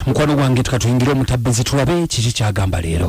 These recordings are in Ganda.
mukwano gwange tukatuyingire omutabbizi tulabe kiki kyagamba leero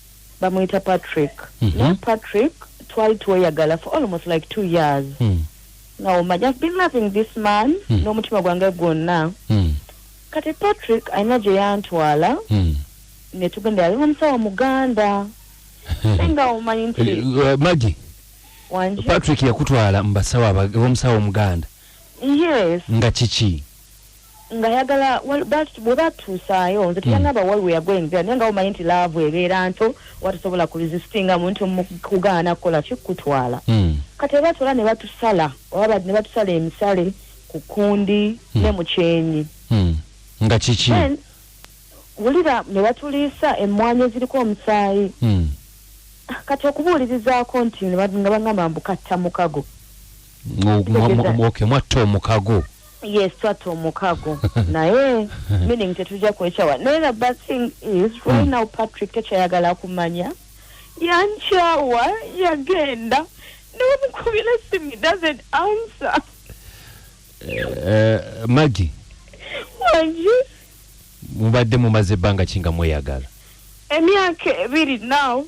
bamuyita patrick mm -hmm. naye patrick twali tweyagala for almost like two years mm. nga omanya i've been loving this man mm. n'omutima gwange gwonna mm. kati patrick alina gye yantwala mm. ne tugenda yali omusawo muganda naye nga omanyi nti eh, eh, magi patrick yakutwala mu basawo omusawo omuganda yes nga kiki nga yagala webatuusaayo nze teyanaba mm. waliwo yagwenzera naye nga womanyi nti laavu ebeera nto watasobola ku resistinga muntu mukugaana kukola kikutwala mm. kati ebatwala ne batusala oba ne batusala emisale ku kundi mm. ne mukyenyi mm. nga kiki wulira ne batuliisa emmwanyi eziriko omusaayi mm. kati okubuulirizaako nti nga bangamba mbukatta mukago okay mwatta omukago yes twatta omukago naye meaning tetujja kwekyawa naye the bad thing is right hmm. now patrick tekyayagala kumanya yankyawa yagenda newamukubira simu doesn't answer uh, maggie wangi mubadde mumaze ebbanga kinga mweyagala emyaka ebiri now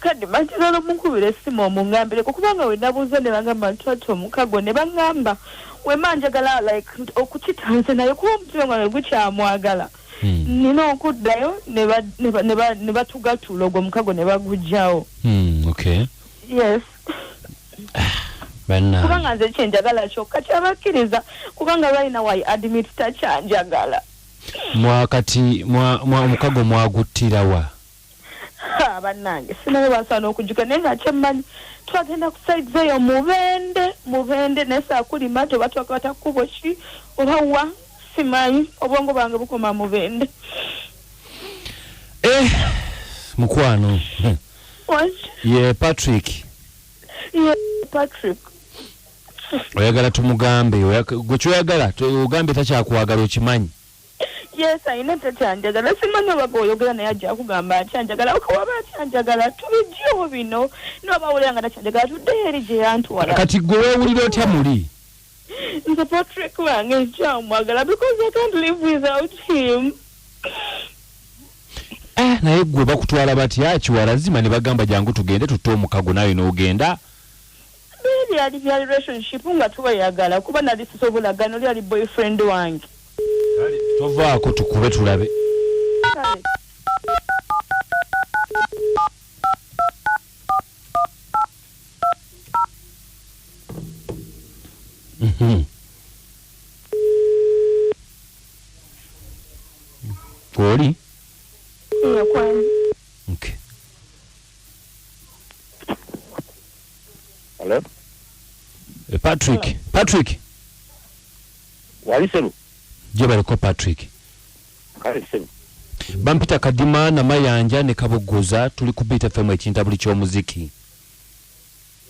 kadi manjagala omukubira essimu omungambireko kubanga wenabuuza ne bangamba nti ati omukago ne bangamba wema njagala like okukitanze naye kuba omutima gwange gukyamwagala hmm. nina okuddayo ne batugatula ogwo omukago ne bagujjawo hmm, yes kubanga nze kyenjagala kyokka kyabakkiriza kubanga lwalina wy admit takyanjagala mwakati omukago mwaguttirawa bannange sinaye basaana okujuka naye nga kyemmanyi twagenda ku saids eyo mubende mubende naye saakulima toba twakwata kkubo ki oba wa simanyi obwongo bwange bukoma mubende eh, mukwano ye patrick ye patrick oyagala tumugambe gwe kyoyagala ogambye takyakwagala okimanyi yes alina etakyanjagala simanyi oba gweoyogera naye ajja kugamba akyanjagala okawaba akyanjagala tubijjewo bino noba awulira nga takyanjagala tuddeyo eri gye yantwala kati gwe wewulira otya muli nze patrick wange nkyamwagala because i can't live without him eh, naye gwe bakutwala batya kiwala zima ne bagamba jangu tugende tutte omukago naye n'ogenda Naye byali bya relationship nga tweyagala kuba nali sisobola gana oli ali boyfriend wange. Kale tovaako tukube tulabe. Kale. Mhm. Kwoli? Eyo kwani. Okay. Hello? Eh, patrick Hello. patrick wali sebo gye baliko patrick kale sebo bampita kadima namayanja ne kabuguza tuli ku bit fm ekinta buli ky'omuziki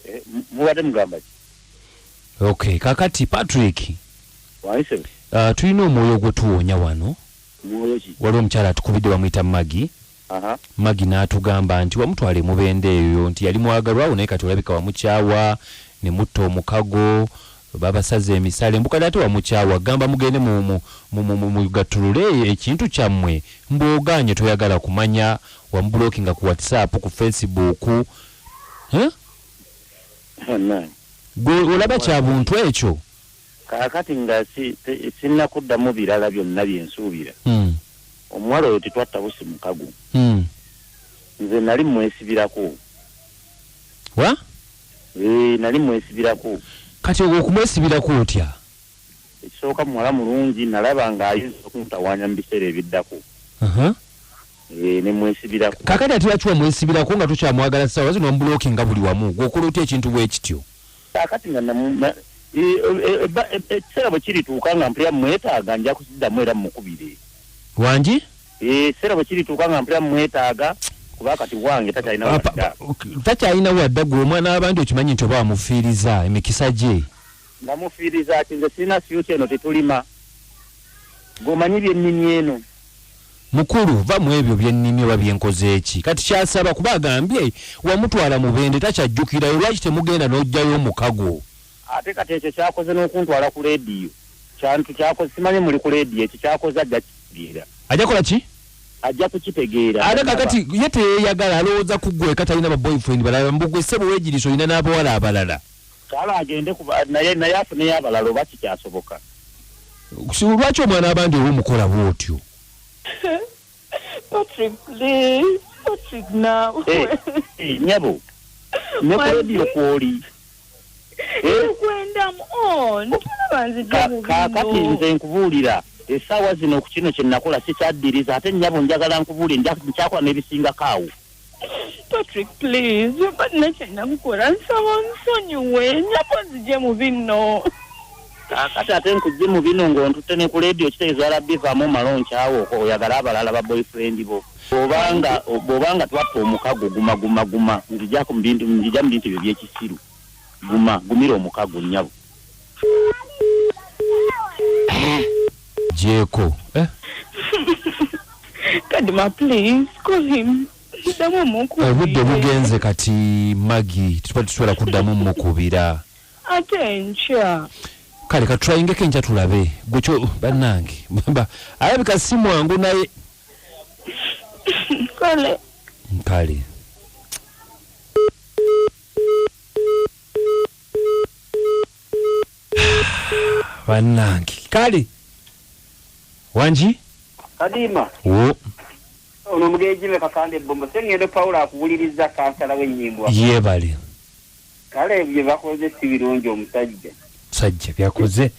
eh, mubadde mugamba ki ok kakati patrick wali sebo uh, tulina omwoyo ogwetuwoonya wano mwoyo ki waliwo omukyala atukubidde bamuyita magi Maggie n'atugamba nti wamutwala e Mubende eyo nti yali mwagalwa wo naye kati olabika wamukyawa ne mutta omukago babasaze emisale mbu kati ate wamukyawa gamba mugende mu, mu, mu, mu, mu, mugattulule e- ekintu kyammwe mbu ogaanye toyagala kumanya wamubulokinga ku whatsapp ku facebook huh? Bannange. gwe olaba kya buntu ekyo Kaakati nga si, si, sinnakuddamu birala byonna bye nsuubira, mm. omuwala oyo tetwatta busi mukago. Mm. Nze nali mmwesibirako. Wa? Ee, nali mmwesibirako. Kati ogwo okumwesibirako otya? Ekisooka muwala mulungi nalaba ng'ayinza okuntawaanya mu biseera ebiddako. Uh -huh. Ee, ne mwesibirako. Kaakati ate lwaki wamwesibirako nga tokyamwagala ssaawa zino omubulokinga buli wamu? Gwe okola otya ekintu bwe kityo? kaakati nga ekiseera bwe kirituuka nga mpulira mwetaaga nja kusiddamu era mukubire wangi ekiseera bwe kirituuka nga mpulira mwetaaga kuba kati wange takyalina wadda takyalina wadda gwe omwana w'abandi okimanyi nti oba wamufiiriza emikisa gye nga mufiiriza ki nze sirina fyuti eno tetulima Gwomanyi byennimye eno. Mukulu va mwebyo byennimye oba byenkozeeki kati kyasaba kuba agambye wamutwala mubende takyajjukirayo lwaki temugenda nojjayo omukago. Ate kati ekyo kyakoze nokuntwala ku leediyo kyantu kyakoze simanyi muli ku leediyo ekyo kyakoze ajja kitegeera. Ajja kola ki? Ajja kukitegeera. Ate kakati ye teyeyagala alowooza kugweka talina ba boyfriend balala mbu gwe ssebo wegiriisa olina n'abawala abalala. Kale agende kuba naye naye afuneyo abalala oba kikyasoboka. Kusibu lwaki omwana abandi owo mukola bwotyo. Patrick please Patrick now. Eh, eh, nyabo. Ne ku radio kwoli. Eh? Kwenda mu on. Kakati nze nkubuulira. Esaawa zino ku kino kye nakola sikyaddiriza ate nyabo njagala nkubuulire nja nkyakula n'ebisingako awo. patrick please balina kyenakukola nsaba onsonyiwe nyabo nzije mu binno kati ate nkujje mu bino ng'ontutte ne ku leediyo kitegeeza rabbi vaamu omala onkyawo oyagala abalala ba boyfriend bo obanga obanga twatta omukago guma guma guma nzijako mubintu nzija mu bintu byo byekisiru guma gumira omukago nyabo jeeko eh? kadima please call him obudde eh, bugenze kati magi tuba tusobola kuddamu mukubira ate nkya kale katutwayingeko enkya tulabe gwekyo bannange alabika si mwangu naye kale kale bannange kale wangi kadiima wo ono omugenzi me kakande bbombo sengendo pawulo akuwuliriza kansala w'ennyimbo yeebale kale bye bakoze si birungi omusajja musajja byakoze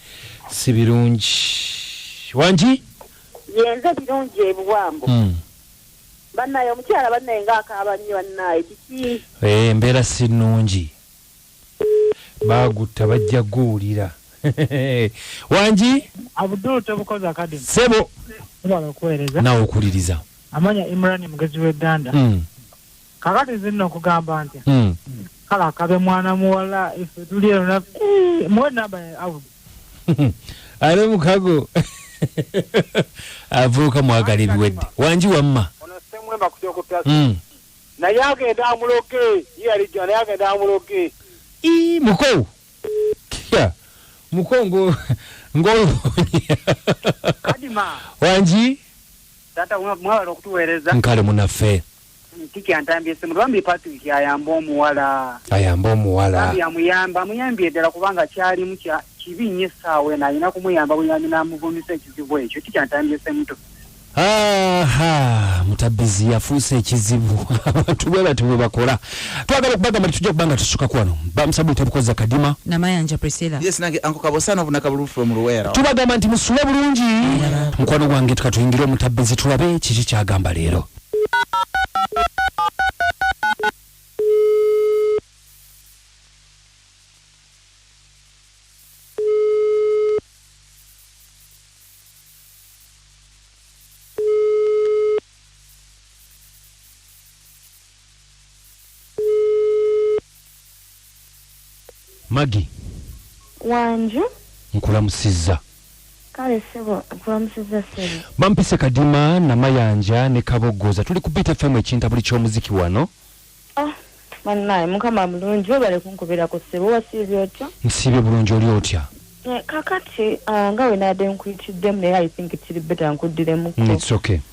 si birungi wangi yenze birungi ebuwambo hmm. bannaye omukyala bannaye nga akaaba nnyo bannaye kiki eh, embeera si nnungi baagutta bajja guwulira wangi abdul tebukoze akademi sebo obala okuweereza nawe okuwuliriza amanya imran mugezi w'egganda mm. kakati zinna okugamba nti mm. kale akabe mwana muwala ife tuli eno na eh, muwe namba ya abdu ale mukago avuuka mwagala ebiwedde wangi wamma mm. Naye agenda amuloge ye yali jana naye agenda amuloge. Ii muko. Kia. Muko ngo ngo. Kadima. Wanji. Tata mwala okutuwereza. Nkale munafe. Tiki antambye simu bambi Patrick ayamba omuwala. Ayamba omuwala. Bambi amuyamba amuyambye edala kubanga kyali mukya kibi nnyo essaawa eno alina kumuyamba buyambi n'amuvunyisa ekizibu ekyo kikyantandise muto Aha, mutabbizi yafuuse ekizibu abantu bwe batyo bwe bakola twagala okubagamba nti tujja kuba nga tusuka ku wano bamusabu tebukoza kadima namayanja priscilla yes nange anko kabosana obuna kabulu from luwera tubagamba nti musule bulungi mukwano gwange tukatuyingire omutabbizi tulabe kiki kyagamba leero magi wanju nkulamusizza kale sebo nkulamusizza sebo bampise kadima namayanja ne kaboggoza tuli ku btfm ekintabuli ky'omuziki wano Ah, bannaaye mukama mulungi webale kunkubirako ssebo wasiibye otya nsiibye bulungi oli otya kakati ah, nga wenabadde nkuyitiddemu naye i think kiri beta nkuddiremuko mm, okay.